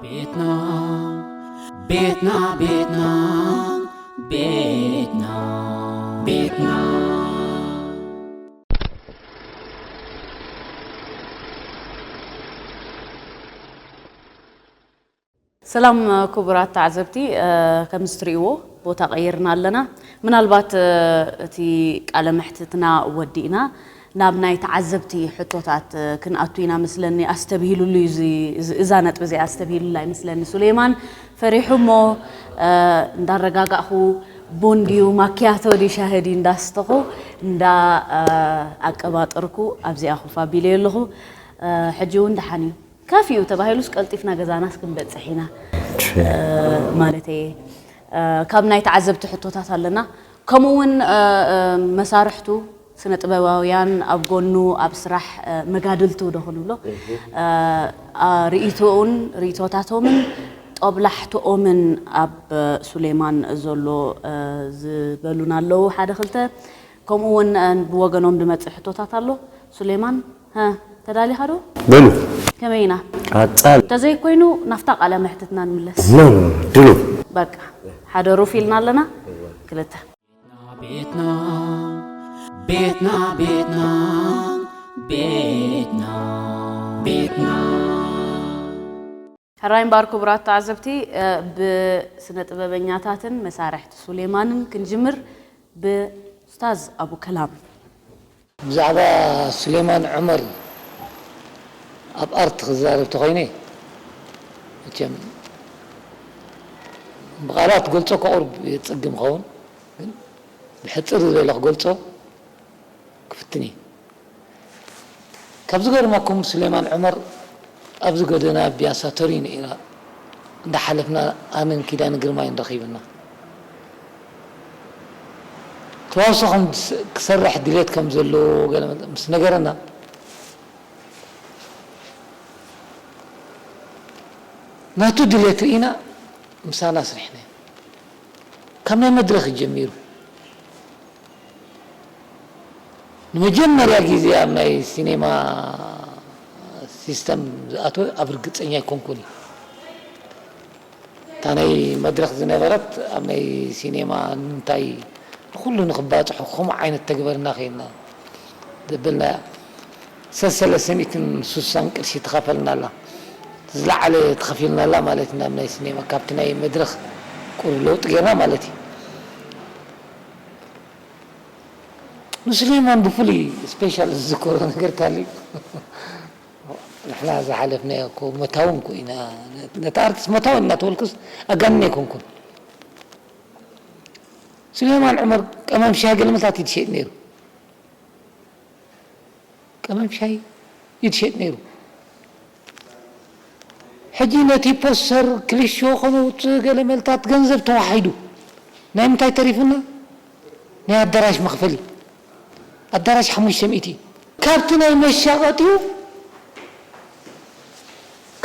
ቤትና ቤትና ቤትና ቤትና ቤትና ሰላም ክቡራት ተዓዘብቲ ከምዚ ትርእይዎ ቦታ ቀይርና ኣለና ምናልባት እቲ ቃለ መሕትትና ወዲእና ናብ ናይ ተዓዘብቲ ሕቶታት ክንኣቱ ኢና መስለኒ ኣስተብሂሉሉ እዩ እዚ እዛ ነጥቢ እዚኣ ኣስተብሂሉላ ይመስለኒ ሱሌማን ፈሪሑ እሞ እንዳረጋጋእኹ ቡን ድዩ ማክያቶ ድዩ ሻሂ ድዩ እንዳስተኹ እንዳ ኣቀባጠርኩ ኣብዚኣ ኮፍ ኣቢለዮ ኣለኹ ሕጂ እውን ደሓን እዩ ከፍ እዩ ተባሂሉስ ቀልጢፍና ገዛናስ ክንበፅሕ ኢና ማለት እየ ካብ ናይ ተዓዘብቲ ሕቶታት ኣለና ከምኡ እውን መሳርሕቱ ስነ ጥበባውያን ኣብ ጎኑ ኣብ ስራሕ መጋድልቱ ዶ ክንብሎ ርእይቶኡን ርእይቶታቶምን ጦብላሕትኦምን ኣብ ሱሌማን ዘሎ ዝበሉና ኣለዉ ሓደ ክልተ ከምኡ ውን ብወገኖም ድመጽእ ሕቶታት ኣሎ ሱሌማን ሀ ተዳሊኻ ዶ በሉ ከመይ ኢና ቀጻሊ እንተዘይ ኮይኑ ናፍታ ቃለ መሕትትና ንምለስ ኖ ኖ ድሉው በቃ ሓደሩፍ ኢልና ኣለና ክልተ። ቤትና ቤትና ቤትና ቤትና ቤትና ሕራይ እምበኣር ክቡራት ተዓዘብቲ ብስነ ጥበበኛታትን መሳርሕቲ ሱሌማንን ክንጅምር ብኡስታዝ ኣቡከላም ብዛዕባ ስሌማን ዑመር ኣብ ኣርት ክዛረብ ተኾይነ መቸም ብቓላት ክገልጾ ከቑርብ የጸግም ይኸውን ግን ብሕጽር ዝበለ ክገልጾ ክፍትን እየ። ካብ ዝገርመኩም ስሌማን ዑመር ኣብዚ ጎደና ቢያሳ ቶሪኖ ኢና እንዳሓለፍና ኣነን ኪዳነ ግርማይን ረኺብና። ተዋስኦ ከም ክሰርሕ ድሌት ከም ዘለዎ ገለ ምስ ነገረና፣ ናቱ ድሌት ርኢና ምሳና ኣስሪሕናዮ። ካብ ናይ መድረኽ እዩ ጀሚሩ። ንመጀመርያ ግዜ ኣብ ናይ ሲኔማ ሲስተም ዝኣተወ ኣብ ርግጸኛ ኣይኮንኩን እዩ። እታ ናይ መድረኽ ዝነበረት ኣብ ናይ ሲኔማ ንምንታይ ንኹሉ ንኽባጽሖ ከምኡ ዓይነት ተግበርና ኬንና ዘበልናያ ሰሰለሰ ሚእትን ሱሳን ቅርሺ ተኸፈልናላ ዝለዓለ ተኸፊልናላ ማለት ናብ ናይ ሲኔማ ካብቲ ናይ መድረኽ ቁሩብ ለውጢ ጌርና ማለት እዩ ንሱሌማን ብፍሉይ ስፔሻል ዝዝከሮ ነገር ካሊእ ንሕና ዝሓለፍናዮ እኮ መታው እንኮ ኢና ነቲ ኣርቲስት መታው እናተበልኩስ ኣጋንነ ኣይኮንኩን ስሌማን ዑመር ቀመም ሻሂ ገለ መታት እዩ ዝሸጥ ነይሩ ቀመም ሻሂ እዩ ዝሸጥ ነይሩ ሕጂ ነቲ ፖስተር ክልሾ ከነውፅእ ገለ መልታት ገንዘብ ተዋሒዱ ናይ ምንታይ ተሪፉና ናይ ኣዳራሽ መኽፈሊ ኣዳራሽ ሓሙሽተ ሚእቲ ካብቲ ናይ መሻቀጢኡ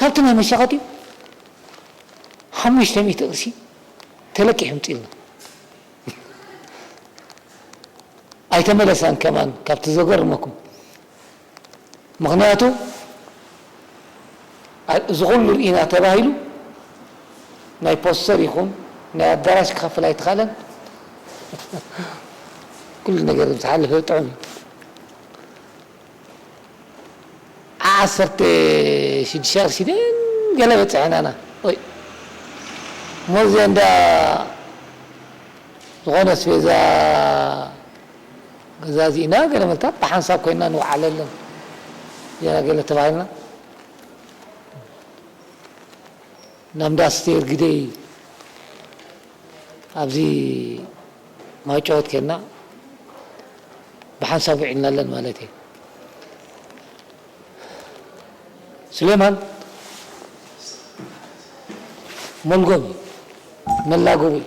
ካብቲ ናይ መሻቀጢኡ ሓሙሽተ ሚእቲ ቅርሺ ተለቂሑ ይምጽኢልና ኣይተመለሳን ከማን ካብቲ ዘገርመኩም። ምኽንያቱ እዚ ኩሉ ርኢና ተባሂሉ ናይ ፖስተር ይኹን ናይ ኣዳራሽ ክኸፍል ኣይተኻእለን ኩሉ ነገር ምስ ሓለፈ ጥዑም እዩ። ዓ ዓሰርተ ሽዱሽተ ቅርሺ ድየን ገለ በጺሐናና ወይ እሞ እዚኤን ድኣ ዝኾነ ኣስቤዛ ገዛዚእና ገለ መግታት ብሓንሳብ ኮይንና ንውዓለለን ገለ ገለ ተባሂልና ናብ እንዳ ኣስቴር ግደይ ኣብዚ ማይጨወት ከድና ብሓንሳብ ውዒልናለን ማለት እየ። ስሌማን ሞልጎም እዩ መላጎቢ እዩ።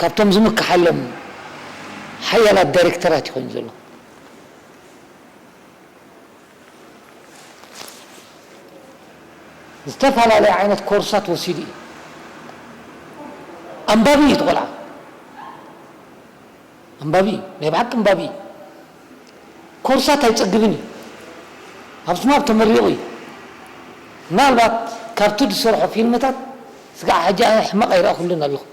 ካብቶም ዝምከሓሎም ሓያላት ዳይሬክተራት እዩ ኮይኑ ዘሎ። ዝተፈላለየ ዓይነት ኮርሳት ወሲዱ እዩ። ኣንባቢ እዩ እቲ ቆልዓ። ኣንባቢ እዩ ናይ ብሓቂ ኣንባቢ እዩ ኮርሳት ኣይጸግብን እዩ ኣብ ስማፕ ተመሪቁ እዩ ምናልባት ካብቲ ዝሰርሖ ፊልምታት ስጋዕ ሕጂ ኣነ ሕማቅ ኣይረኣኩሉን ኣብኹም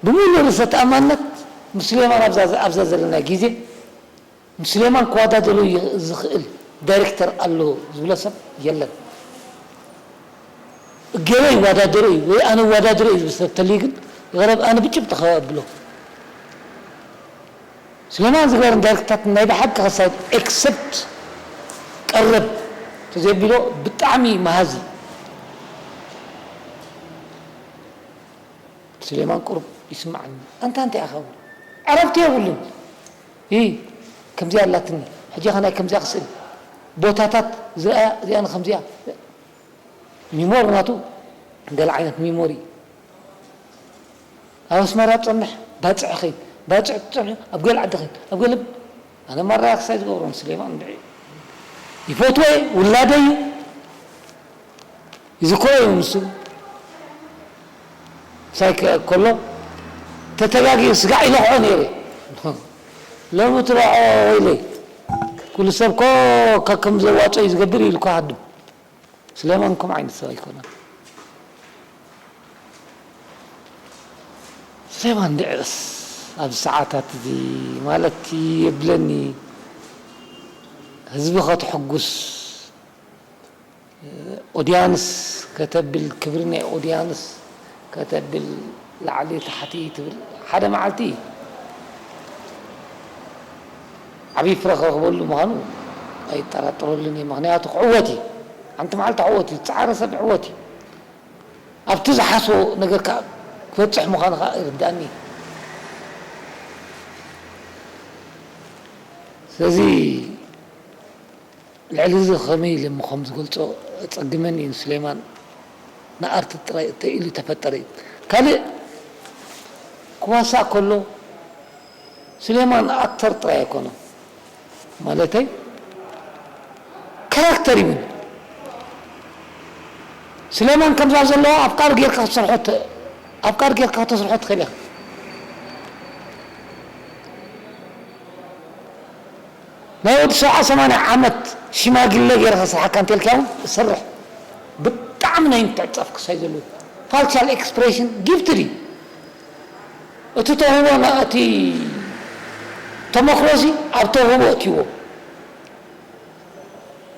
ብምሉእ ርእሰ ተኣማንነት ምስ ሱሌማን ኣብዛ ኣብዛ ዘለና ግዜ ንሱሌማን ክዋዳደሮ ዝኽእል ዳይሬክተር ኣሎ ዝብሎ ሰብ የለን። እገሌ ይዋዳደሮ እዩ ወይ ኣነ እዋዳድሮ እየ ዝብል ሰብ ተልዩ ግን ይቕረብ ኣነ ብጭብጢ ካብ ኣብሎ ሱሌማን ዝገበረን ዳይሬክተራት ናይ ብሓቂ ከሳይት ኤክሰፕት ቀረብ ተዘየቢሎ ብጣዕሚ መሃዚ ሱሌማን ቁሩብ ይስምዓኒ ኣንታ እንታይ ኢኻ ዕረፍቲ የብሉን። እይ ከምዚኣ ኣላትኒ ሕጂከ ናይ ከምዚኣ ክስእን ቦታታት ዝረኣያ እዚኣ ንከምዚኣ ሚሞር ናቱ ገለ ዓይነት ሚሞር እዩ ኣብ ኣስመራ ትጸንሕ ባጽዕ ከይድ ባጽዕ ትጸንሕ ኣብ ገለ ዓዲ ከይድ ኣብ ገለ ኣነ ማራ ክሳይ ዝገብሮ ንስሌማን እንድዒ ይፈትዎ እየ ውላደይ እዩ። እዚ ኮሎ እዩ ንሱ ምሳይ ኮሎ ተተጋግየ ስጋዕ ይነኽዖ ነይረ ሎሚ ትረዖ ወይለይ ኩሉ ሰብ ኮ ከከም ዘዋጾ እዩ ዝገብር እዩ ኢልኩ ሃድም ስለማን ከም ዓይነት ሰብ ኣይኮነን ስለማን ድዕስ ኣብ ሰዓታት እዚ ማለት የብለኒ ህዝቢ ከተሕጉስ ኦድያንስ ከተብል ክብሪ ናይ ኦድያንስ ከተብል ላዕሊ ታሕቲ ትብል ሓደ ማዓልቲ ዓብይ ፍረ ክረኽበሉ ምኻኑ ኣይጣራጠረሉን እየ ምኽንያቱ ክዕወት እዩ ሓንቲ ማዓልቲ ክዕወት እዩ ዝጻዓረ ሰብ ይዕወት እዩ ኣብቲ ዝሓስቦ ነገር ካኣ ክበጽሕ ምኻኑ ካኣ ይርዳኣኒ እዩ ስለዚ ልዕሊ እዚ ከመይ ኢለ እሞ ከም ዝገልጾ ኣጸግመኒ ን ሱሌማን ንኣርት ጥራይ እተይ ኢሉ ተፈጠረ እዩ ካልእ ክዋሳእ ከሎ ሱሌማን ኣክተር ጥራይ ኣይኮነን ማለተይ ካራክተር እዩ ውን ሱሌማን ከምዛ ዘለዋ ኣፍቃሪ ጌርካ ክትሰርሖ ኣፍቃሪ ጌርካ ከተስርሖ ትክእል ኢካ። ናይ ወዲ ሰብዓ ሰማንያ ዓመት ሽማግለ ገይረ ከስርሓካ እንተልክያ ውን እሰርሕ ብጣዕሚ ናይ ምትዕጽጻፍ ክሳይ ዘለዎ ፋልቻል ኤክስፕሬሽን ጊፍትድ እዩ እቲ ተውህቦ እቲ ተሞክሮዚ ኣብ ተውህቦ እትይዎ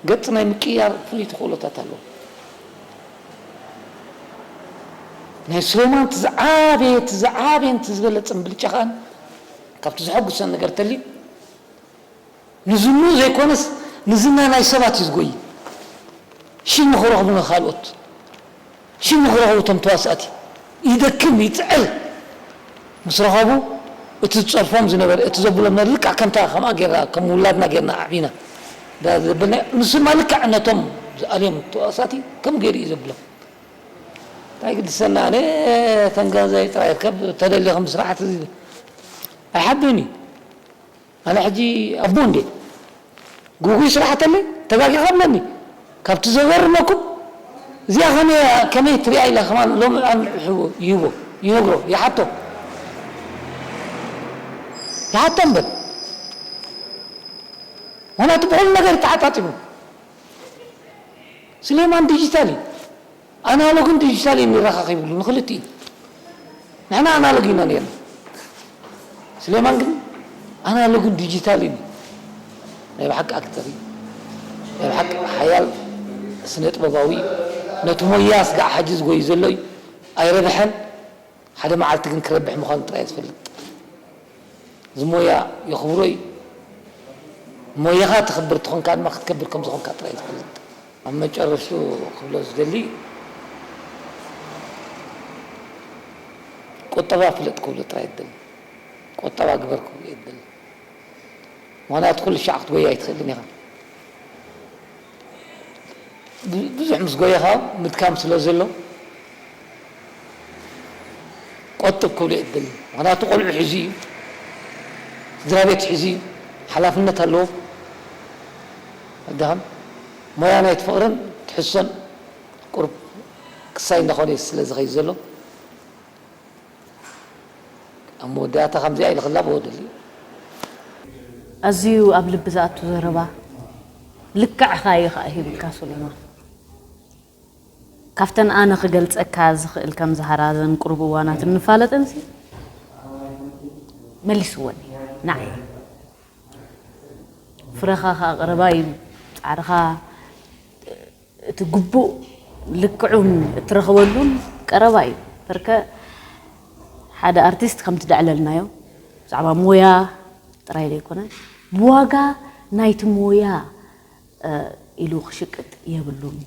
ገጽ ናይ ምቅይያር ፍሉይ ተኽእሎታት ኣለዎ ናይ ሱሌማን እቲ ዝዓበየ እቲ ዝዓበየን እቲ ዝበለጸን ብልጫ ከኣ ካብቲ ዘሐጉሰኒ ነገር እንተልዩ ንዝንኡ ዘይኮነስ ንዝና ናይ ሰባት እዩ ዝጎይ ሽም ንክረክቡ ንካልኦት ሽም ንክረክቡ እቶም ተዋሳእቲ ይደክም ይጽዕር ምስ ረከቡ እቲ ዝጸርፎም ዝነበረ እቲ ዘብሎም ነር ልክዕ ከምታ ከምኣ ጌርና ከም ውላድና ጌርና ኣዕቢና ዳር ዘበልናዮ ንሱ ድማ ልክዕ ነቶም ዝኣልዮም ተዋሳእቲ ከምኡ ጌሩ እዩ ዘብሎም እንታይ ግድሰኒ ኣነ ተንገንዘይ ጥራይ ከብ ተደሊኹም ስራሕቲ ኣይሓድርን እዩ ኣነ ሕጂ ኣቦ እንድየ ጉጉይ ስራሕ ተለይ ተጋጊኻ ብለኒ ካብቲ ዘገርመኩም እዚኣ ከመይ እያ ከመይ ትሪኣ ኢለ ከማን ሎሚ ኣንሕዎ ይህቦ ይነግሮ ይሓቶ ይሓቶ እምበል ምክንያቱ ብኩሉ ነገር ተሓጣጢሙ ስሌማን ዲጂታል እዩ። ኣናሎግን ዲጂታል የሚራኻኽ ይብሉ ንክልቲኡ ንሕና ኣናሎግ ኢና ነርና ስሌማን ግን ኣናሎግን ዲጂታልን እዩ ናይ ብሓቂ ኣክተር እዩ ናይ ብሓቂ ሓያል ስነጥበባዊ እዩ ነቲ ሞያ ስጋዕ ሓጂ ዝጎዩ ዘሎ እዩ ኣይረብሐን ሓደ መዓልቲ ግን ክረብሕ ምዃኑ ጥራይ እየ ዝፈልጥ። እዚ ሞያ የኽብሮ እዩ። ሞያኻ ተኽብር ተኾንካ ድማ ክትከብር ከም ዝኾንካ ጥራይ እየ ዝፈልጥ። ኣብ መጨረሽትኡ ክብሎ ዝደሊ ቁጠባ ፍለጥ ክብሎ ጥራይ ዝደሊ። ቁጠባ ግበር ክብሎ እየ ዝደሊ። ምኽንያቱ ኩሉ ሻዕ ክትጎዪ ኣይትኽእልን ኢኻ። ብዙሕ ምስ ጎየኻ ምድካም ስለ ዘሎ ቆጥብ ክብሉ እየ ዝደሊ። ምኽንያቱ ቆልዑ ሒዙ እዩ፣ ስድራቤት ሒዙ እዩ፣ ሓላፍነት ኣለዎ። ኣይደኸም ሞያ ናይቲ ፍቕርን ትሕዝቶን ቁሩብ ክሳይ እንዳኾነ እዩ ስለ ዝኸይድ ዘሎ። ኣብ መወዳእታ ከምዚኣ ኢለ ክላበዎ እደሊ። ኣዝዩ ኣብ ልቢ ዝኣቱ ዘረባ ልክዕ እኻ እዩ ኸኣ ሂብካ ሱሌማን። ካብተን ኣነ ክገልጸካ ዝኽእል ከም ዛህራ ዘን ቁሩብ እዋናት እንፋለጥንሲ መሊስወን እዩ ንዓይ። ፍረኻ ኸኣ ቀረባ እዩ ጻዕርኻ እቲ ግቡእ ልክዑን እትረኽበሉን ቀረባ እዩ። ፐርከ ሓደ ኣርቲስት ከምቲ ደዕለልናዮ ብዛዕባ ሞያ ጥራይ ዘይኮነ ብዋጋ ናይቲ ሞያ ኢሉ ክሽቅጥ የብሉን።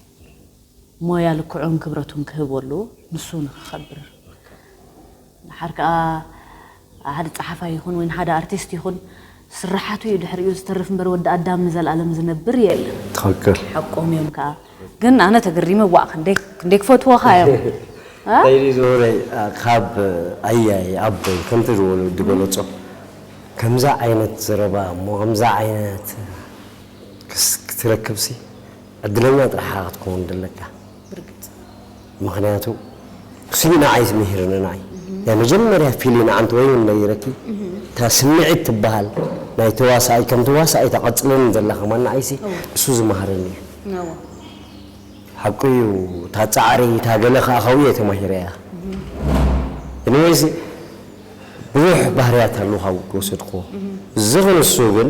ሞያ ልክዑን ክብረቱን ክህቦ ኣለዎ ንሱ ንክኸብር። ድሓር ከኣ ሓደ ጸሓፋይ ይኹን ወይ ሓደ ኣርቲስት ይኹን ስርሓቱ እዩ ድሕሪኡ ዝተርፍ እምበር ወዲ ኣዳም ንዘልኣለም ዝነብር የለን። ትኽክል። ሓቆም እዮም ከኣ ግን ኣነ ተገሪመ ዋእ ክንደይ ክንደይ ክፈትዎኻ እዮም እ። እንታይ ድዩ ዝብለይ ካብ ኣያይ ኣቦይ ከምቲ ዝወለ ዝገለጾ ከምዚ ዓይነት ዘረባ እሞ ከምዚ ዓይነት ክትረክብሲ ዕድለኛ ጥራሕ ኢኻ ክትከውን ዘለካ። ብርግጽ። ምኽንያቱ ስኒ ንዓይስ ምሂርኒ ንዓይ ናይ መጀመርያ ፊሊ ንዓንቲ ወይውን ነይረኪ እታ ስምዒት ትብሃል ናይ ተዋሳኣይ ከም ተዋሳኣይ ተቀጽለኒ ዘላ ከማን ንዓይሲ ንሱ ዝመሃረኒ እየ ኣወ። ሓቁ እዩ እታ ጻዕሪ እታ ገለ ከኣ ካብኡ እየ ተማሂረያ ኤኒወይስ ብዙሕ ባህርያት ኣሎ ካብኡ ዝወሰድክዎ እዚ ክንሱ ግን።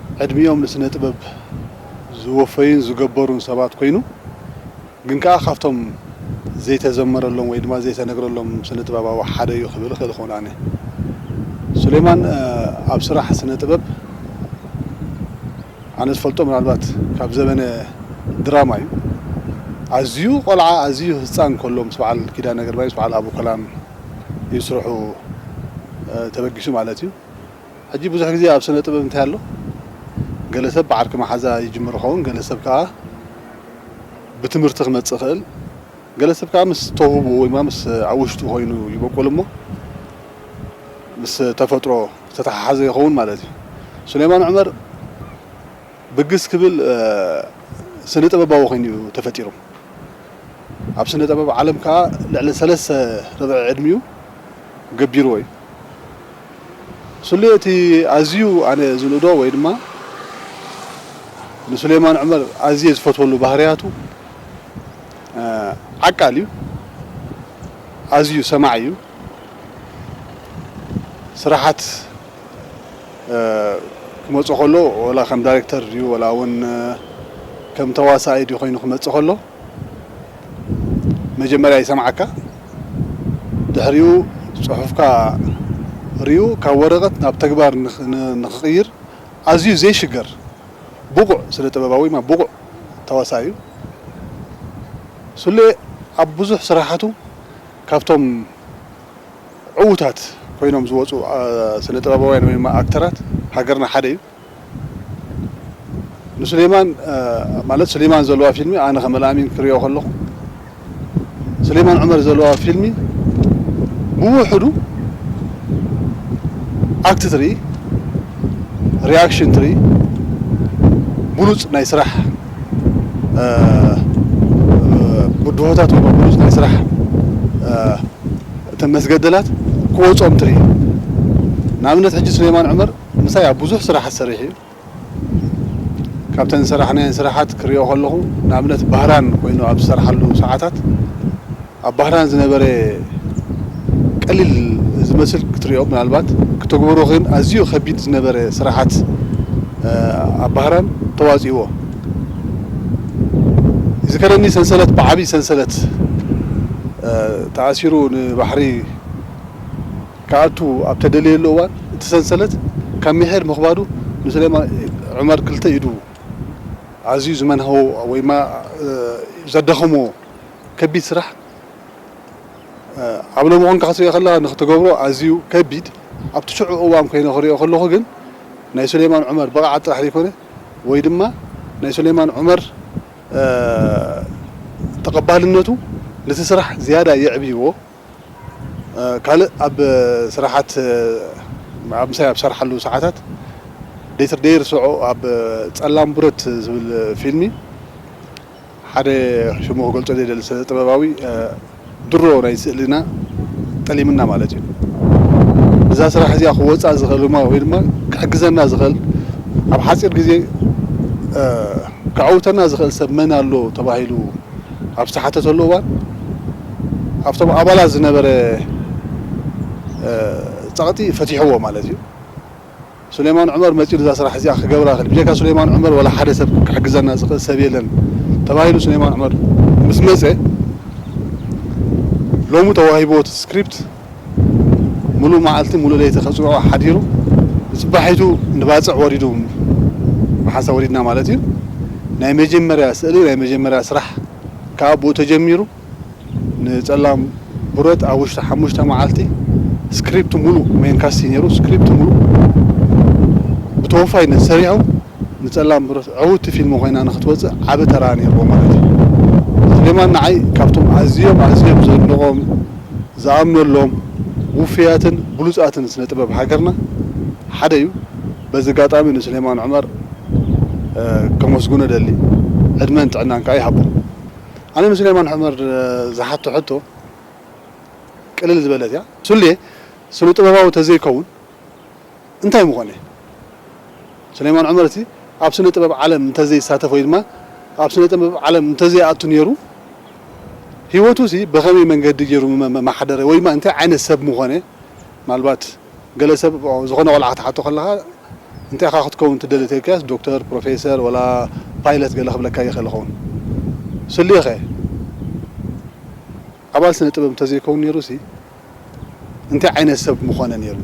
ዕድሚኦም ንስነ ጥበብ ዝወፈዩን ዝገበሩን ሰባት ኮይኑ ግን ከኣ ካብቶም ዘይተዘመረሎም ወይ ድማ ዘይተነግረሎም ስነ ጥበባዊ ሓደ እዩ ክብል እኽእል ክውን ኣነ። ሱሌማን ኣብ ስራሕ ስነ ጥበብ ኣነ ዝፈልጦ ምናልባት ካብ ዘበነ ድራማ እዩ ኣዝዩ ቆልዓ ኣዝዩ ህጻን ከሎ ምስ በዓል ኪዳነ ግርማይ ምስ በዓል ኣቡከላን እዩ ስርሑ ተበጊሱ ማለት እዩ። ሕጂ ብዙሕ ግዜ ኣብ ስነ ጥበብ እንታይ ኣሎ ገለ ሰብ ብዓርኪ መሓዛ ይጅምር ይኸውን ገለ ሰብ ከኣ ብትምህርቲ ክመጽእ ይኽእል ገለ ሰብ ከኣ ምስ ተውህቦኡ ወይማ ምስ ኣብ ውሽጡ ኮይኑ ይበቁል እሞ ምስ ተፈጥሮ ዝተተሓሓዘ ይኸውን ማለት እዩ ሱሌማን ዑመር ብግስ ክብል ስነ ጥበባዊ ኮይኑ እዩ ተፈጢሩ ኣብ ስነ ጥበብ ዓለም ከኣ ልዕሊ ሰለስተ ርብዒ ዕድሚኡ ገቢርዎ እዩ። ስሉየ እቲ ኣዝዩ ኣነ ዝንእዶ ወይ ድማ ንሱሌማን ዑመር ኣዝየ ዝፈትወሉ ባህርያቱ ዓቃል እዩ ኣዝዩ ሰማዒ እዩ ስራሓት ክመጾ ከሎ ወላ ከም ዳሬክተር ድዩ ወላ ውን ከም ተዋሳኣይ ድዩ ኮይኑ ክመጽእ ከሎ መጀመርያ ይሰምዓካ ድሕሪኡ ጽሑፍካ ሪኡ ካብ ወረቀት ናብ ተግባር ንክቅይር ኣዝዩ ዘይሽገር ብቁዕ ስነ ጥበባዊ ወይማ ብቁዕ ተዋሳኢ እዩ። ሱሌ ኣብ ብዙሕ ስራሓቱ ካብቶም ዕዉታት ኮይኖም ዝወጹ ስነ ጥበባውያን ወይማ ኣክተራት ሃገርና ሓደ እዩ። ንሱሌማን ማለት ሱሌማን ዘለዋ ፊልሚ ኣነ ከም ኣልኣሚን ክሪኦ ከለኹ ሱሌማን ዑመር ዘለዋ ፊልሚ ብውሕዱ ኣክት ትርኢ ሪኣክሽን ትርኢ ብሉጽ ናይ ስራሕ ብድሆታት ወይ ብሉጽ ናይ ስራሕ እተን መስገደላት ክወጾም ትርኢ ንኣብነት ሕጂ ሱሌማን ዑመር ምሳይ ኣብ ብዙሕ ስራሓት ሰሪሑ እዩ። ካብተን ዝሰራሕናየን ስራሓት ክሪኦ ከለኹ ንኣብነት ባህራን ኮይኑ ኣብ ዝሰርሓሉ ሰዓታት ኣብ ባህራን ዝነበረ ቀሊል ዝመስል ክትሪኦ ምናልባት ክተግብሮ ግን ኣዝዩ ከቢድ ዝነበረ ስራሓት ኣብ ባህራን ተዋጺእዎ። ይዝከረኒ ሰንሰለት ብዓቢ ሰንሰለት ተኣሲሩ ንባሕሪ፣ ክኣቱ ኣብ ተደለየሉ እዋን እቲ ሰንሰለት ካብ ሚሒር ምኽባዱ ንሱሌማን ዑመር ክልተ ኢዱ ኣዝዩ ዝመንሃዎ ወይማ ዘዳኸሞ ከቢድ ስራሕ ኣብ ሎሚ ኮንካ ክትሪኦ ከለኻ ንኽትገብሮ ኣዝዩ ከቢድ ኣብቲ ሽዑ እዋን ኮይነ ክሪኦ ከለኹ ግን ናይ ሱሌማን ዑመር ብቕዓት ጥራሕ ዘይኮነ ወይ ድማ ናይ ሱሌማን ዑመር ተቐባልነቱ ነቲ ስራሕ ዝያዳ የዕብይዎ ካልእ ኣብ ስራሓት ኣብ ምሳይ ኣብ ዝሰርሓሉ ሰዓታት ደይትር ደይርስዖ ኣብ ጸላም ቡረት ዝብል ፊልሚ ሓደ ሽሙ ክገልጾ ዘይደሊ ስነ ጥበባዊ ድሮ ናይ ስእሊና ጠሊምና ማለት እዩ እዛ ስራሕ እዚኣ ክወጻእ ዝኽእል ድማ ወይ ድማ ክሕግዘና ዝኽእል ኣብ ሓጺር ግዜ ከዐውተና ዝኽእል ሰብ መን ኣሎ ተባሂሉ ኣብ ዝተሓተተሉ እዋን ኣብቶም ኣባላት ዝነበረ ጸቕጢ ፈቲሕዎ ማለት እዩ። ሱሌማን ዑመር መጺኡ ነዛ ስራሕ እዚኣ ክገብራ ክል ብጀካ ሱሌማን ዑመር ዋላ ሓደ ሰብ ክሕግዘና ዝኽእል ሰብ የለን ተባሂሉ ሱሌማን ዑመር ምስ መጸ ሎሚ ተዋሂብዎ እቲ ስክሪፕት ሙሉእ መዓልቲ ሙሉእ ለይቲ ከፅውዖ ሓዲሩ ንፅባሒቱ ንባፅዕ ወሪዱ መሓሳ ወሪድና ማለት እዩ ናይ መጀመርያ ስእሊ ናይ መጀመርያ ስራሕ ክዓ ብኡ ተጀሚሩ ንፀላም ብረት ኣብ ውሽጢ ሓሙሽተ መዓልቲ ስክሪፕት ሙሉእ ሜን ካስት እዩ ነይሩ ስክሪፕት ሙሉእ ብተወፋይነት ሰሪሑ ንጸላም ብሩህ ዕውቲ ፊልም ኮይና ንክትወጽእ ዓቢ ተራ ኔርዎ ማለት እዩ። ስሌማን ንዓይ ካብቶም ኣዝዮም ኣዝዮም ዘድንቖም ዝኣምነሎም ውፉያትን ብሉጻትን ስነ ጥበብ ሃገርና ሓደ እዩ። በዚ ኣጋጣሚ ንስሌማን ዑመር ከመስግኖ እደሊ ዕድመን ጥዕናን ከኣ ይሃቦ። ኣነ ንስሌማን ዑመር ዝሓቶ ሕቶ ቅልል ዝበለት እያ። ሱሌ ስነ ጥበባዊ ተዘይከውን፣ እንታይ ምኾነ? ሱሌማን ዑመር እቲ ኣብ ስነ ጥበብ ዓለም እንተዘይሳተፍ ወይ ድማ ኣብ ስነ ጥበብ ዓለም እንተዘይኣቱ ኔሩ ሂወቱሲ ብኸመይ መንገዲ ጌሩ ምመሓደረ ወይ ድማ እንታይ ዓይነት ሰብ ምኾነ? ምናልባት ገለ ሰብ ዝኾነ ቆልዓ ክትሓቶ ከለኻ እንታይ ኢኻ ክትከውን ትደሊ ተልካዮስ ዶክተር፣ ፕሮፌሰር ወላ ፓይለት ገለ ክብለካ ይኽእል ይኸውን። ሱሌኸ ኣባል ስነ ጥበብ እንተዘይከውን ኔሩሲ? እንታይ ዓይነት ሰብ ምኾነ ኔሩ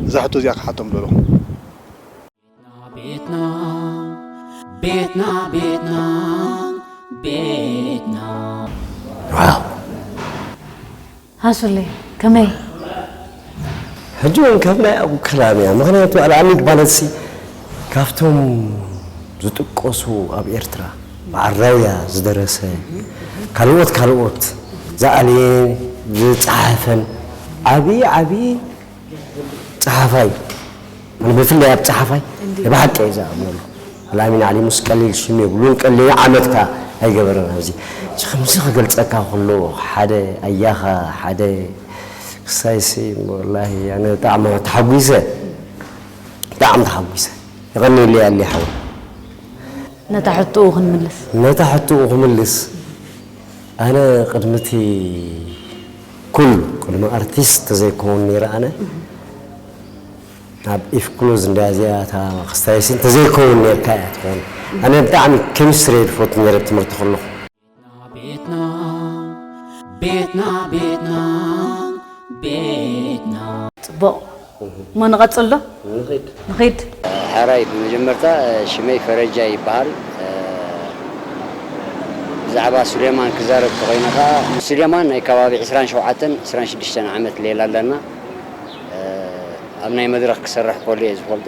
እዛ ሕቶ እዚኣ ክሓቶም ደለኹ። ቤትና ቤትና ቤትና ቤትና ኣሱለይ ከመይ ሕጂ እውን ከም ናይ ኣብኡ ክላም እያ ምክንያቱ ኣልኣሚግ ማለትሲ ካብቶም ዝጥቀሱ ኣብ ኤርትራ በዓል ራያ ዝደረሰ ካልኦት ካልኦት ዝኣለየን ዝጸሓፈን ዓቢ ዓቢ ጸሓፋይ ኣነ ብፍላይ ኣብ ጸሓፋይ ናይ ብሓቂ እየ ዝኣምነሉ ኣልኣሚን ዓሊ ሙስ ቀሊል ሽም የብሉን ቀሊል ዓመት ከኣ ኣይገበረን ኣብዚ እዚ ከምዚ ክገልጸካ ከሎ ሓደ ኣያኻ ሓደ ክሳይሲ ወላሂ ኣነ ብጣዕሚ ተሓጒሰ ብጣዕሚ ተሓጒሰ የቐንየለይ ኣሊ ሓወይ ነታ ሕቶኡ ክንምልስ። ነታ ሕቶኡ ክምልስ፣ ኣነ ቅድሚ እቲ ኩል፣ ቅድሚ ኣርቲስት ተዘይከውን ነይረ ኣነ፣ ኣብ ኢፍ ክሎዝ እንድያ እዚኣ እታ ክስታይሲ፣ እንተዘይከውን ነይርካ እያ ትኸውን። ኣነ ብጣዕሚ ኬሚስትሪ እየ ዝፈቱ ነይረ ኣብ ትምህርቲ ከለኹ። ቤትና ቤትና ቤትና ቤትና ፅቡቕ እሞ ንቐፅል ዶ ንኺድ ሓራይ ብመጀመርታ ሽመይ ፈረጃ ይበሃል ብዛዕባ ሱሌማን ክዛረብ ተኮይነ ከዓ ንሱሌማን ናይ ከባቢ 27 26 ዓመት ሌላ ኣለና ኣብ ናይ መድረክ ክሰርሕ ከሎ እየ ዝፈልጦ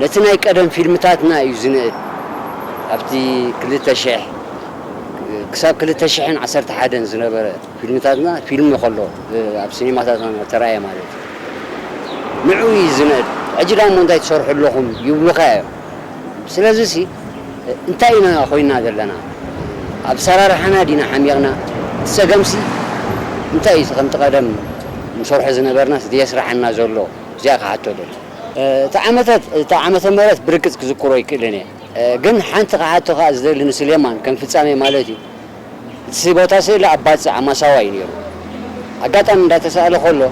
ነቲ ናይ ቀደም ፊልምታትና እዩ ዝንእድ ኣብቲ ክልተ ሽሕ ክሳብ ክልተ ሽሕን ዓሰርተ ሓደን ዝነበረ ፊልምታትና ፊልም ከሎ ኣብ ሲኒማታትና እናተራእየ ማለት እዩ ንዕኡ እዩ ዝንእድ ሕጂ ዳሞ እንታይ ትሰርሑ ኣለኹም ይብሉኻ እዮም ስለዚ ሲ እንታይ ኢና ኮይና ዘለና ኣብ ኣሰራርሓና ዲና ሓሚቕና እቲ ጸገም ሲ እንታይ እዩ እቲ ከምቲ ቀደም ንሰርሖ ዝነበርናስ ዘየስርሓና ዘሎ እዚኣ ክሓቶ ደልየ። እቲ ዓመታት እቲ ዓመተ ምህረት ብርግጽ ክዝክሮ ኣይክእልን እየ ግን ሓንቲ ክሓቶ ከኣ ዝደሊ ንስሌማን ከም ፍጻሜ ማለት እዩ እቲ ቦታ ስእሊ ኣብ ባጽዕ ኣብ ማሳዋ እዩ ኔሩ ኣጋጣሚ እንዳ ተሳእለ ከሎ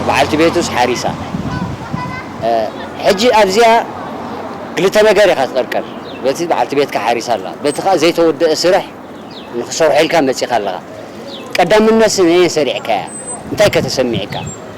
በዓልቲ ቤቱስ ሓሪሳ ሕጂ ኣብዚኣ ክልተ ነገር ኢኻ ትቅርቀር በቲ በዓልቲ ቤትካ ሓሪሳ ኣላ በቲ ከኣ ዘይተወደኣ ስርሕ ንክሰርሖ ኢልካ መጺኻ ኣለኻ ቀዳምነት ስነየን ሰሪዕካያ እንታይከ ተሰሚዕካ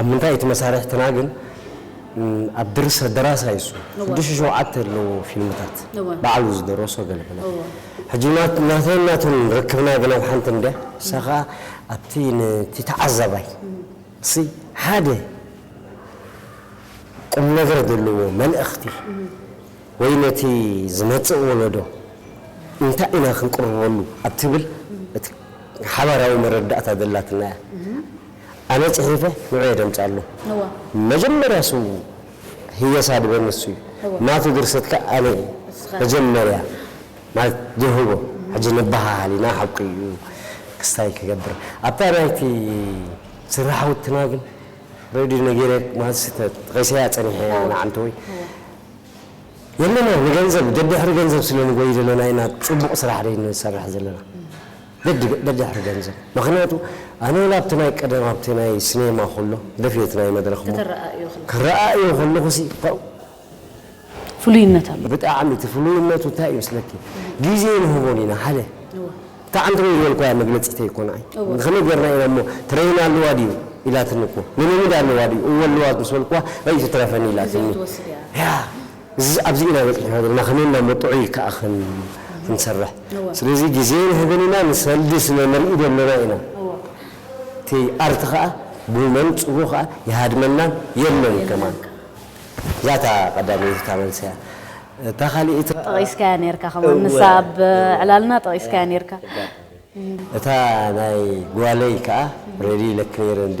ኣብ ምንታይ እቲ መሳርሕትና ግን ኣብ ድርሰት ደራሳይ እሱ ሽዱሽተ ሸውዓተ ኣለዎ ፊልምታት ባዕሉ ዝደረሶ ገለ ገለ ሕጂ ናተይን ናቱን ርክብና ግን ኣብ ሓንቲ እንድያ እሳ ከኣ ኣብቲ ነቲ ተዓዛባይ እሲ ሓደ ቁምነገር ዘለዎ መልእኽቲ ወይ ነቲ ዝመጽእ ወለዶ እንታይ ኢና ክንቅርበሉ ኣብ ትብል እቲ ሓባራዊ መረዳእታ ዘላትና እያ። ኣነ ጽሒፈ ንዑ የደምጻሉ መጀመርያ ስሙ ህየሳ ድበ ንሱ እዩ ናቱ ድርሰት ከኣ ኣነ እየ መጀመርያ ማለት ድህቦ ሕጂ ንበሃሃል ኢና ሓቁ እዩ ክስታይ ክገብር ኣብታ ናይቲ ስራሕውትና ግን ሬድዮ ነጊረ ማልሲ ተጠቂሰያ ጸኒሐ እያ ንዓንተወይ የለና ንገንዘብ ደድሕሪ ገንዘብ ስለ ንጎይ ዘለና ኢና ጽቡቅ ስራሕ ደይ ንሰርሕ ዘለና። በዲ በዳሒ ገንዘብ መክንያቱ ኣነ ወላ ኣብቲ ናይ ቀደም ኣብቲ ናይ ስኔማ ኩሎ ደፍየት ናይ መድረክ እሞ ከተረኣእዮ ክለኩ። ክረኣእዮ ከለኩ ሲ ፐእ። ፍሉይነት ኣለዎ። ብጣዕሚ እቲ ፍሉይነቱ እንታይ እዩ መስለኪ ግዜ ንህቦን ኢና ሓደ እወ። እታ ዓንዲ ርኡይ ዝበልክዋያ መግለጺተይ እኮ ንዓይ እወ። ከመይ ጌርና ኢና እሞ ትረይን ኣለዋ ድዩ ኢላትኒ እኮ ልምምድ ኣለዋ ድዩ እወ ኣለዋ ምስ በልክዋ ኣይ ትትረፈኒ እዚ ኢላትኒ ክትወስድ እያ። ያ። እዚ ኣብዚ ኢና በጺሕና ዘለና ከመይ ኢልና እሞ ጥዑይ ከኣ ክንሰርሕ ስለዚ ግዜ ንህብን ኢና ንሰልዲ ስለ ንርኢ ዘለና ኢና እቲ ኣርት ከኣ ብመንጽሩ ከኣ ይሃድመና የለን ከማን ዛታ ቀዳመይቲ እታ መልሲ እያ እታ ካልኢት ጠቂስካያ ኔርካ ከማን ንሳ ኣብ ዕላልና ጠቂስካያ ኔርካ እታ ናይ ጓለይ ከኣ ረድይ ኢለኪ ኔረ እንዴ።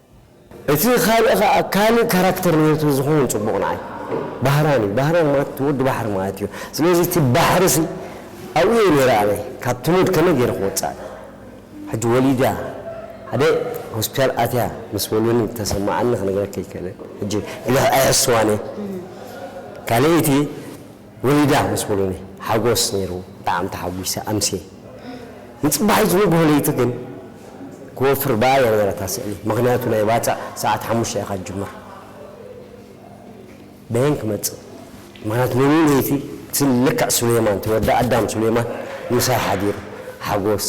እቲ ካልእ ከኣ ካልእ ካራክተር ነይርቱ ዝኸውን ጽቡቕ ንዓይ ባህራን እዩ ባህራን ማለት እቲ ወዲ ባሕሪ ማለት እዩ ስለዚ እቲ ባሕሪሲ ኣብኡ እየ ነይረ ኣነ ካብቲ ሙድ ከመይ ገይረ ክወጽእ ሕጂ ወሊዳ ሓደ ሆስፒታል ኣትያ ምስ በሉኒ ዝተሰማዓኒ ክነግረኪ ኣይክእልን ሕጂ ግደፍ ኣይሕስዋን እየ ካልኣይቲ ወሊዳ ምስ በሉኒ ሓጎስ ነይሩ ብጣዕሚ ተሓጒሰ ኣምስየ። ንጽባሒት ዝንግሆ ለይቲ ግን ክወፍር ብኣ እያ ነይራ እታ ስእሊ ምኽንያቱ ናይ ባጽዕ ሰዓት ሓሙሽተ ኢኻ ትጅምር በየን ክመጽእ ምኽንያቱ ሙሉእ ለይቲ ስእሊ ልክዕ ሱሌማን እቲ ወዲ ኣዳም ሱሌማን ምሳይ ሓዲሩ ሓጎስ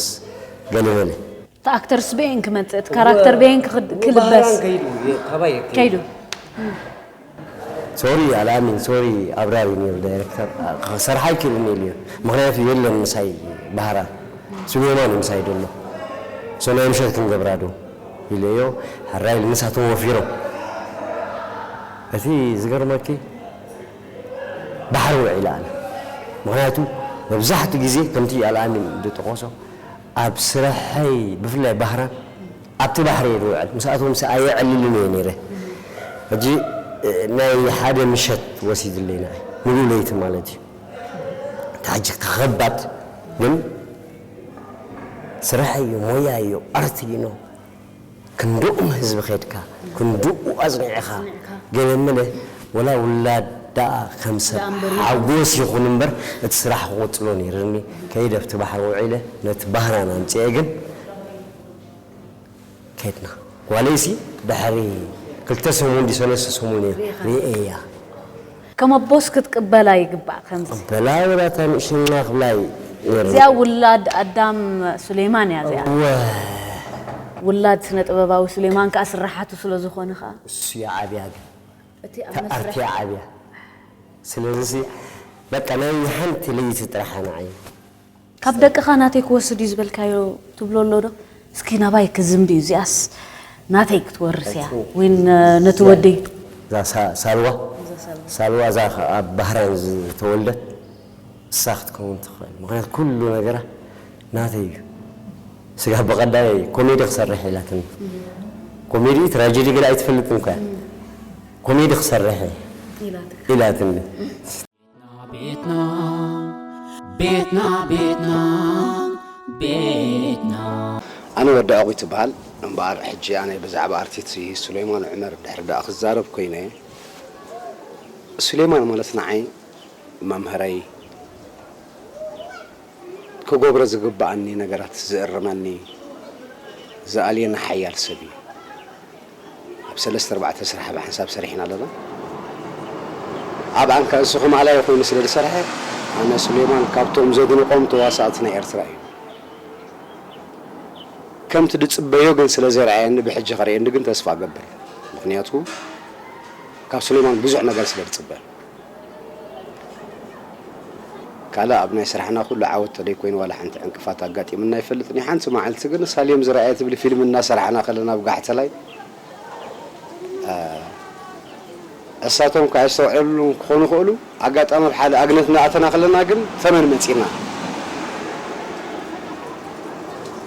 ገለ በለ። እቲ ኣክተርስ በየን ክመጽእ እቲ ካራክተር በየን ክልበስ ከይዱ ከይዱ። ሶሪ ኣልኣሚን ሶሪ ኣብራር እዩ ነይሩ ዳይረክተር ክሰርሓ ኣይክእልን ኢሉ እዩ ምኽንያቱ የለን ምሳይ ባህራ ሱሌማን እዩ ምሳይ ደሎ ሶ ናይ ምሸት ክንገብራ ዶ ኢለዮ ሕራይ ኢሉ ንሳቶም ወፊሮም እቲ ዝገርመኪ ባሕሪ ውዒለ ኣነ ምኽንያቱ መብዛሕትኡ ግዜ ከምቲ ኣልኣሚን ዝጠቐሶ ኣብ ስርሐይ ብፍላይ ባህራን ኣብቲ ባሕሪ እየ ዝውዕል ምስኣቶምሲ ኣየዕልልን እየ ነይረ ሕጂ ናይ ሓደ ምሸት ወሲድለይ ንዓይ ሙሉእ ለይቲ ማለት እዩ እንተ ሕጂ ከከባድ ግን ስራሕ እዩ ሞያ እዩ ኣርት እዩ ን ክንድኡም ህዝቢ ከድካ ክንድኡ ኣጽኒዕኻ ገለ መለ ወላ ውላድ ደኣ ከም ሰብ ሓጎስ ይኹን እምበር እቲ ስራሕ ክቕጽሎ ነይርኒ ከይደ ኣብቲ ባሕሪ ውዒለ ነቲ ባህራን ኣምጺኤ ግን ከድና ጓለይሲ ድሕሪ ክልተ ሰሙን ድዩ ሰለስተ ሰሙን እየ ሪኤያ። ከም ኣቦስ ክትቅበላ ይግባእ ከምዚ። ክቅበላ ወላ እታ ንእሽና ክብላይ ነይርኒ። እዚኣ ውላድ ኣዳም ሱሌማን እያ እዚኣ። እወ። ውላድ ስነ ጥበባዊ ሱሌማን ከኣ ስርሓቱ ስለ ዝኾነ ከኣ። እሱ እያ ዓብያ ግን። እቲ ኣብ እታ ኣርቲ እያ መስርሕ። ዓብያ። ስለዚሲ በቃ ናይ ሓንቲ ለይቲ ጥራሕ ኣነ ዓይነይ። ካብ ደቅኻ ናተይ ክወስድ እዩ ዝበልካዮ ትብሎ ኣሎ ዶ እስኪ ናባይ ክዝምቢ እዩ እዚኣስ ናተይ ክትወርስ እያ ወይ ነቲ ወደይ እዛ ሳልዋ ሳልዋ እዛ ኣብ ባህረን ዝተወልደት እሳ ክትከውን ትክእል ምክንያቱ ኩሉ ነገራ ናተይ እዩ ስጋብ ብቀዳይ ኮሜዲ ክሰርሕ ኢላትኒ ኮሜዲ ትራጀዲ ገለ ኣይትፈልጥን እኮ እያ ኮሜዲ ክሰርሕ እየ ኢላትኒ። ቤትና ቤትና ቤትና ቤትና ኣነ ወዲ ዕቑት እበሃል። እምበኣር ሕጂ ኣነ ብዛዕባ ኣርቲትሲ ሱሌማን ዑመር ድሕሪ ደኣ ክዛረብ ኮይነ፣ ሱሌማን ማለት ንዓይ መምህረይ፣ ክገብሮ ዝግበኣኒ ነገራት ዝእርመኒ፣ ዝኣልየኒ ሓያል ሰብ እዩ። ኣብ ሰለስተ ኣርባዕተ ስራሕ ብሓንሳብ ሰሪሕና ኣለና ኣብኣን ከ እንስኹም ኣላዩ ኮይኑ ስለ ዝሰርሐ ኣነ ሱሌማን ካብቶም ዘድንቆም ተዋሳእቲ ናይ ኤርትራ እዩ ከምቲ ድጽበዮ ግን ስለ ዘይርኣየኒ ብሕጂ ክርእየኒ ግን ተስፋ እገብር ምኽንያቱ ካብ ሱሌማን ብዙሕ ነገር ስለ ድጽበ። ካልእ ኣብ ናይ ስራሕና ኩሉ ዓወት ተደይኮይኑ ዋላ ሓንቲ ዕንቅፋት ኣጋጢሙና ኣይፈልጥን እዩ ሓንቲ ማዓልቲ ግን ሳሌም ዝረኣየ ትብሊ ፊልም እናሰራሕና ከለና ኣብ ጋሕተላይ እሳቶም ካኣ ኣይስተውዕልሉን ክኾኑ ይኽእሉ ኣጋጣሚ ኣብ ሓደ ኣግነት እናኣተና ከለና ግን ተመን መጺና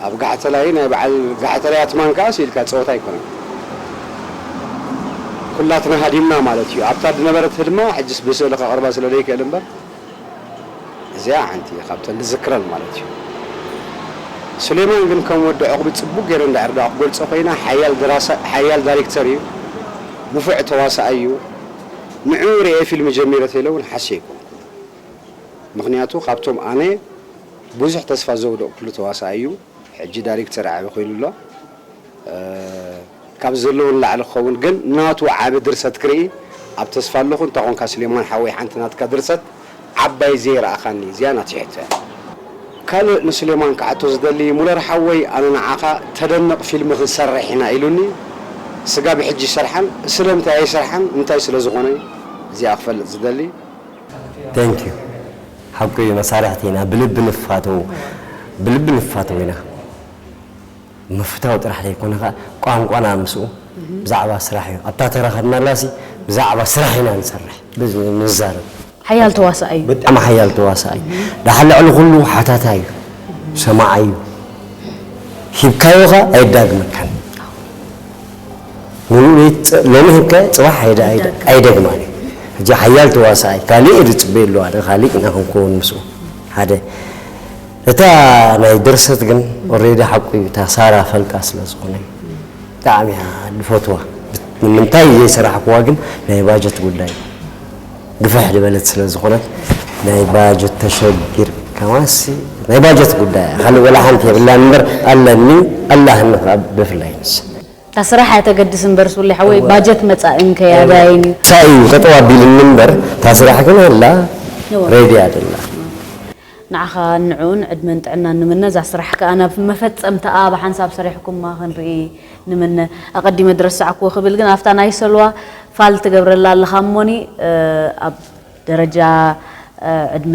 ኣብ ጋሕተላይ ናይ በዓል ጋሕተላይ ኣትማን ከኣ ስኢልካ ጸወታ ኣይኮነን ኩላትና ሃዲምና ማለት ኢዩ ኣብታ ድነበረት ህድማ ሕጅስ ብስእሊ ከቅርባ ስለ ደይክእል እምበር እዚኣ ሓንቲ ካብተን ድዝክረን ማለት ኢዩ ሱሌማን ግን ከም ወዲ ዑቅቢ ጽቡቅ ገይረ እንድሕር ደኣ ክገልጾ ኮይና ሓያል ደራሳይ ሓያል ዳሪክተር ኢዩ ንፉዕ ተዋሳኣይ ኢዩ ንዕኡ ሪኤ ፊልም ጀሚረ ተይለ ውን ሓስየ ኣይኮንኩን ምክንያቱ ካብቶም ኣነ ብዙሕ ተስፋ ዘውደቕኩሉ ተዋሳኣይ እዩ ሕጂ ዳሪክተር ዓቢ ኮይኑ ኣሎ ካብዚ ዘለዎ ንላዕሊ ክኸውን ግን ናቱ ዓቢ ድርሰት ክርኢ ኣብ ተስፋ ኣለኹ እንታይ ኮንካ ስሌማን ሓወይ ሓንቲ ናትካ ድርሰት ዓባይ ዘይረኣኻኒ እዚኣ ናተይ ሕቶ እያ ካልእ ንስሌማን ክሓቶ ዝደሊ ሙለር ሓወይ ኣነ ንዓኻ ተደንቕ ፊልሚ ክንሰርሕ ኢና ኢሉኒ ስጋብ ሕጂ ይሰርሓን ስለምንታይ ኣይሰርሓን እንታይ ስለ ዝኾነ እዚኣ ክፈልጥ ዝደሊ። Thank you ሓቁ እዩ መሳርሕቲ ኢና ብልቢ ንፋተው ብልቢ ንፋተው ኢና ምፍታው ጥራሕ ዘይኮነ ከኣ ቋንቋና ምስኡ ብዛዕባ ስራሕ እዩ ኣብታ ተራ ከድናላሲ ብዛዕባ ስራሕ ኢና ንሰርሕ ንዛረብ ሓያል ተዋሳኣይ እዩ። ብጣዕሚ ሓያል ተዋሳኣይ ደሓር ልዕሊ ኩሉ ሓታታይ እዩ ሰማዓይ እዩ ሂብካዮ ከኣ ኣየዳግመካን። ሎሚ ህከ ጽባሕ ኣይደግማን እዩ ሕጂ ሓያል ተዋሳኣይ ካልእ እየ ዝጽበየሉ ኣነ ካልእ ኢና ክንከውን ምስኡ ሓደ እታ ናይ ድርሰት ግን ኦሬዲ ሓቁ እዩ እታ ሳራ ፈልጣ ስለ ዝኾነ ብጣዕሚ እያ ዝፈትዋ ንምንታይ ዘይሰራሕክዋ ግን ናይ ባጀት ጉዳይ ግፍሕ ዝበለት ስለ ዝኾነት ናይ ባጀት ተሸግር ከማሲ ናይ ባጀት ጉዳይ ካልእ ወላ ሓንቲ የብላን እምበር ኣለኒ ኣላህኒ ብፍላይ ንሳ እታ ስራሕ እያ ተገድስ እምበር ሱሌ ሓወይ ባጀት መፃእን ከያዳይን እዩ። ታይ እዩ ጠጠው ኣቢልኒ እምበር እታ ስራሕ ግን ሀላ ሬዲ እያ ዘላ። ንዓኻን ንዕኡን ዕድመን ጥዕናን ንምነ እዛ ስራሕ ከኣ ናብ መፈጸምታኣ ብሓንሳብ ሰሪሕኩማ ክንርኢ ንምነ ኣቀዲመ ድረሳዕክዎ ክብል ግን ኣብታ ናይ ሰልዋ ፋል ትገብረላ ኣለኻ እሞኒ ኣብ ደረጃ ዕድመ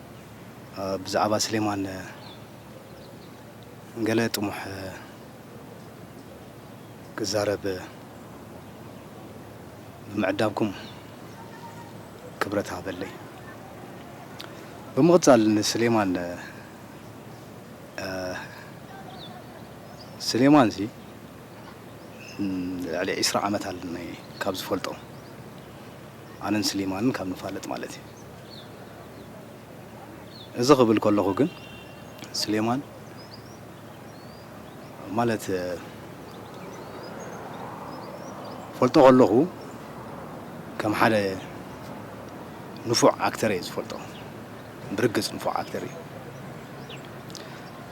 ብዛዕባ ስሌማን ገለ ጥሙሕ ክዛረብ ብምዕዳብኩም ክብረት ሃበለይ። ብምቕጻል ንስሌማን ስሌማንሲ ልዕሊ ዒስራ ዓመት ኣለኒ ካብ ዝፈልጦ ኣነን ስሌማንን ካብ ንፋለጥ ማለት እዩ። እዚ ክብል ከለኹ ግን ስሌማን ማለት ፈልጦ ከለኹ ከም ሓደ ንፉዕ ኣክተር እየ ዝፈልጦ ብርግፅ ንፉዕ ኣክተር እዩ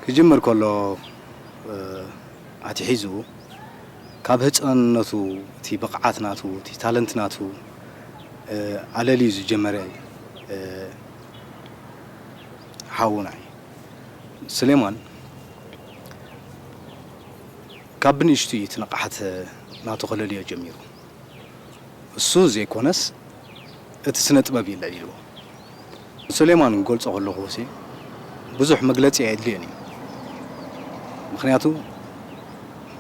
ክጅምር ከሎ ኣትሒዙ ካብ ህጻንነቱ እቲ ብቕዓት ናቱ እቲ ታለንት ናቱ ኣለልዩ ዝጀመረ ሓውና እዩ። ስሌማን ካብ ብንእሽቱ እዩ እቲ ንቕሓት ናቱ ከለልዮ ጀሚሩ። እሱ ዘይኮነስ እቲ ስነ ጥበብ እዩ ለሊልዎ። ሱሌማን ክገልጾ ከለኹሲ ብዙሕ መግለጺ ኣየድልዮን እዩ ምኽንያቱ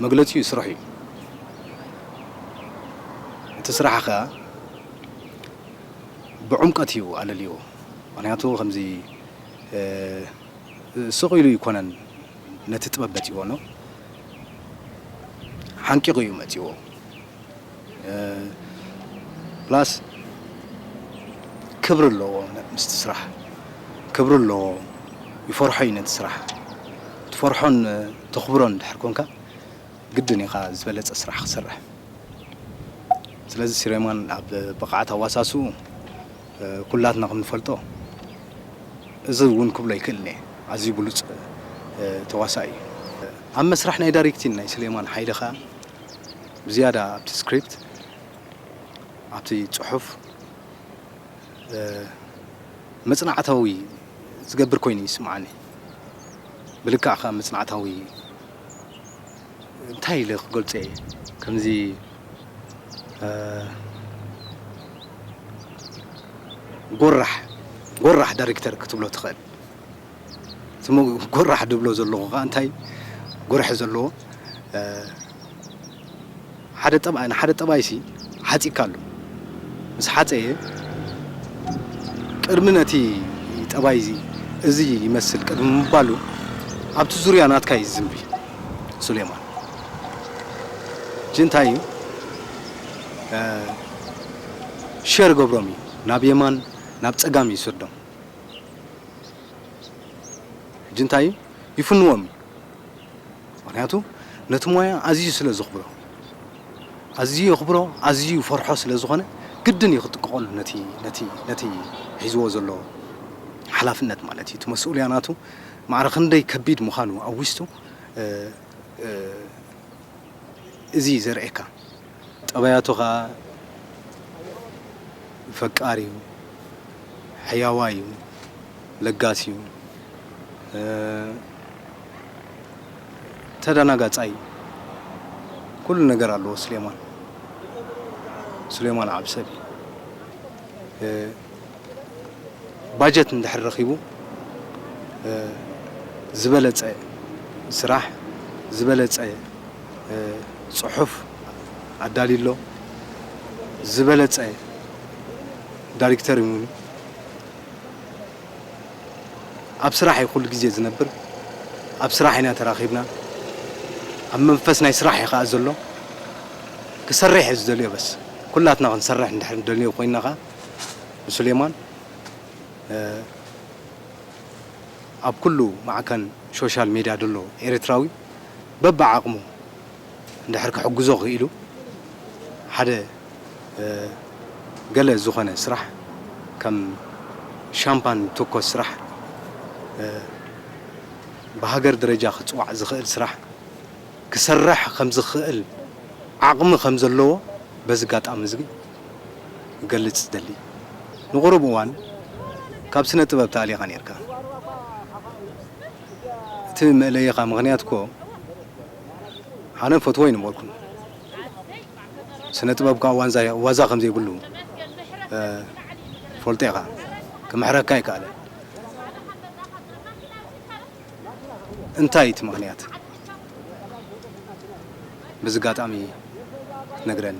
መግለጺኡ ስርሑ እዩ እቲ ስራሕ ከኣ ብዑምቀት እዩ ኣለልይዎ ምኽንያቱ ከምዚ ስቕ ኢሉ ኣይኮነን ነቲ ጥበብ መጺዎኖ ሓንቂቑ እዩ መጺዎ ፕላስ ክብሪ ኣለዎ ምስቲ ስራሕ ክብሪ ኣለዎ ይፈርሖ እዩ ነቲ ስራሕ ትፈርሖን ተኽብሮን ድሕር ኮንካ ግድን ኢኻ ዝበለፀ ስራሕ ክሰርሕ ስለዚ ሲሬማን ኣብ ብቕዓት ኣዋሳስኡ ኩላትና ከም ንፈልጦ እዚ እውን ክብሎ ይክእል እየ ኣዝዩ ብሉፅ ተዋሳኢ እዩ ኣብ መስራሕ ናይ ዳሪክቲን ናይ ስሌማን ሓይለ ከዓ ብዝያዳ ኣብቲ ስክሪፕት ኣብቲ ጽሑፍ መጽናዕታዊ ዝገብር ኮይኑ ይስምዓኒ ብልክዕ ከኣ መጽናዕታዊ እንታይ ኢለ ክገልጾ እየ ከምዚ ጎራሕ ጎራሕ ዳይሬክተር ክትብሎ ትኽእል ዝሞ ጎራሕ ድብሎ ዘለኹ ከኣ እንታይ ጎርሒ ዘለዎ ሓደ ጠብኣይ ንሓደ ጠብኣይሲ ሓጺካ ኣሎ ምስ ሓጸየ ቅድሚ ነቲ ጠባይ እዚ እዚ ይመስል ቅድሚ ምባሉ ኣብቲ ዙርያ ናትካ እዩ ዝዝንቢ ሱሌማን እጂ እንታይ እዩ ሸር ገብሮም እዩ ናብ የማን ናብ ጸጋም ይስዶም ሕጂ እንታይ እዩ ይፍንዎም እዩ ምክንያቱ ነቲ ሞያ ኣዝዩ ስለ ዘኽብሮ ኣዝዩ የኽብሮ ኣዝዩ ይፈርሖ ስለ ዝኾነ ግድን እዩ ክጥቀቐሉ ነቲ ነቲ ነቲ ሒዝዎ ዘሎ ሓላፍነት ማለት እዩ እቲ መስኡልያ ናቱ ማዕረ ክንደይ ከቢድ ምዃኑ ኣዊስቱ እዚ ዘርእየካ ጠባያቱ ከኣ ፈቃር እዩ ሕያዋይ እዩ ለጋስ እዩ ተዳናጋጻይ እዩ ኩሉ ነገር ኣለዎ ሱሌማን ሱሌማን ዓብሰል እዩ ባጀት እንድሕር ረኺቡ ዝበለጸ ስራሕ ዝበለጸ ጽሑፍ ኣዳልዩ ኣሎ ዝበለጸ ዳሪክተር ን ኣብ ስራሕ እዩ ኩሉ ግዜ ዝነብር ኣብ ስራሕ ኢና ተራኺብና ኣብ መንፈስ ናይ ስራሕ እዩ ከኣ ዘሎ ክሰርሕ እዩ ዝደልዮ በስ ኩላትና ክንሰርሕ እንድሕር ንደልዮ ኮይና ከኣ ንሱሌማን ኣብ ኩሉ ማዕከን ሾሻል ሜድያ ደሎ ኤሪትራዊ በብዓቕሙ እንድሕር ክሕግዞ ክኢሉ ሓደ ገለ ዝኾነ ስራሕ ከም ሻምፓን ቶኮስ ስራሕ ብሃገር ደረጃ ክጽዋዕ ዝኽእል ስራሕ ክሰርሕ ከም ዝኽእል ዓቕሚ ከም ዘለዎ በዚ ጋጣሚ እዚ ክገልጽ ዝደሊ ንቑሩብ እዋን ካብ ስነ ጥበብ ተኣሊኻ ኔርካ እቲ መእለይኻ ምኽንያት እኮ ኣነ እፈትዎ ኣይነበርኩን ስነ ጥበብ ክኣ ዋንዛ ዋዛ ከም ዘይብሉ ትፈልጦ ኢኻ ክምሕረካ ኣይክኣለን እንታይ እዩ እቲ ምኽንያት በዚ ኣጋጣሚ ክትነግረኒ።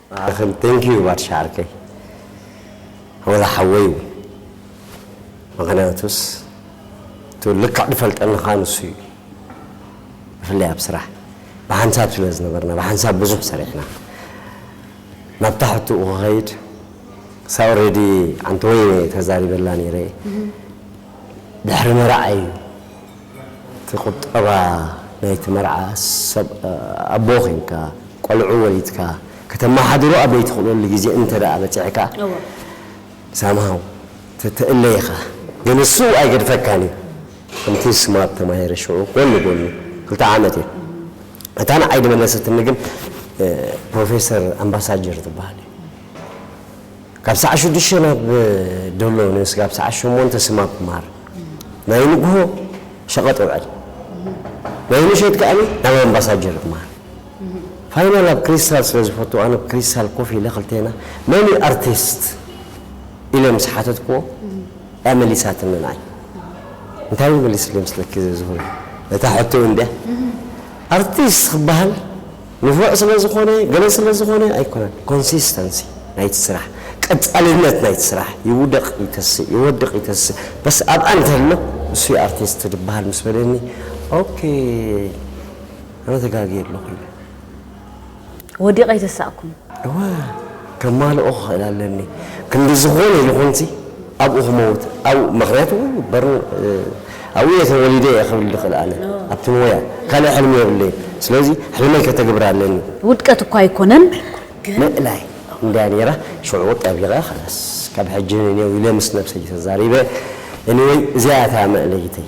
ንዓኽን thank you ባርሻ ዓርከይ ወላ ሓወይ ውን ምኽንያቱስ እቲ ልክዕ ድፈልጠልኻ ንሱ እዩ ብፍላይ ኣብ ስራሕ ብሓንሳብ ስለ ዝነበርና ብሓንሳብ ብዙሕ ሰሪሕና ናብታ ሕትኡ ክኸይድ ሳ ኦልሬዲ ኣንተ ወይነ ተዛሪበላ ነይረ ድሕሪ መርዓ እዩ እቲ ቁጠባ ናይቲ መርዓ ሰብ ኣቦ ኬንካ ቆልዑ ወሊድካ ከተማሓድሮ ኣብ ዘይትኽእለሉ ግዜ እንተ ደኣ በጺሕካ እወ። ሳምሃው ትትእለ ኢኻ ግን እሱ ኣይገድፈካን እዩ ከምቲ ስማርት ተማሂረ ሽዑ ጎኒ ጎኑ ክልተ ዓመት እየ እታ ንዓይ ዝመለሰትኒ ግን ፕሮፌሰር ኣምባሳጀር ትበሃል እያ። ካብ ሰዓት ሽዱሽተ ናብ ደሎ ን ስጋብ ሰዓት ሸሞንተ ስም ኣብ ማር ናይ ንግሆ ሸቐጥ ውዕል ናይ ምሸት ከኣ ናብ ኣምባሳጀር ብ ማር ፋይናል ኣብ ክሪስታል ስለ ዝፈቱ ኣነ ብ ክሪስታል ኮፍ ኢለ ክልቴና መን እዩ ኣርቲስት ኢለ ምስ ሓተትክዎ እያ መሊሳትኒ ንዓይ እንታይ እዩ መሊስለይ ምስለኪ ዘዝሁረ ነታ ሕቶ እንድያ ኣርቲስት ክበሃል ንፉዕ ስለዝኾነ ገለ ስለዝኾነ ኣይኮነን ኮንሲስተንሲ ናይቲ ስራሕ ቀጻልነት ናይቲ ስራሕ ይውደቅ ይተስእ ይወድቅ ይተስእ በስ ኣብኣ እንተሎ ንሱ እዩ ኣርቲስት ድበሃል ምስ በለኒ ኦኬ ኣነ ተጋግየ ኣለኹ ኢለ። ወዲቀ ኣይተሳእኩን እወ ከማልኦ ክኽእል ኣለኒ ክንዲ ዝኾነ ይኹንሲ ኣብኡ ክመውት ኣብኡ ምኽንያቱ በርን ኣብኡ እየ ተወሊደ እየ ክብል ዝኽእል ኣነ ኣብቲ ሞያ ካልእ ሕልሚ የብለይን ስለዚ ሕልመይ ከተግብር ኣለኒ። ውድቀት እኳ ኣይኮነን ግን። ምእላይ እንድያ ነይራ ሽዑ ጠቢቐ ኸላስ ካብ ሕጂ ንኔው ኢለ ምስ ነብሰይ ተዛሪበ ኤኒወይ እዚኣ እያ እታ መእለይተይ።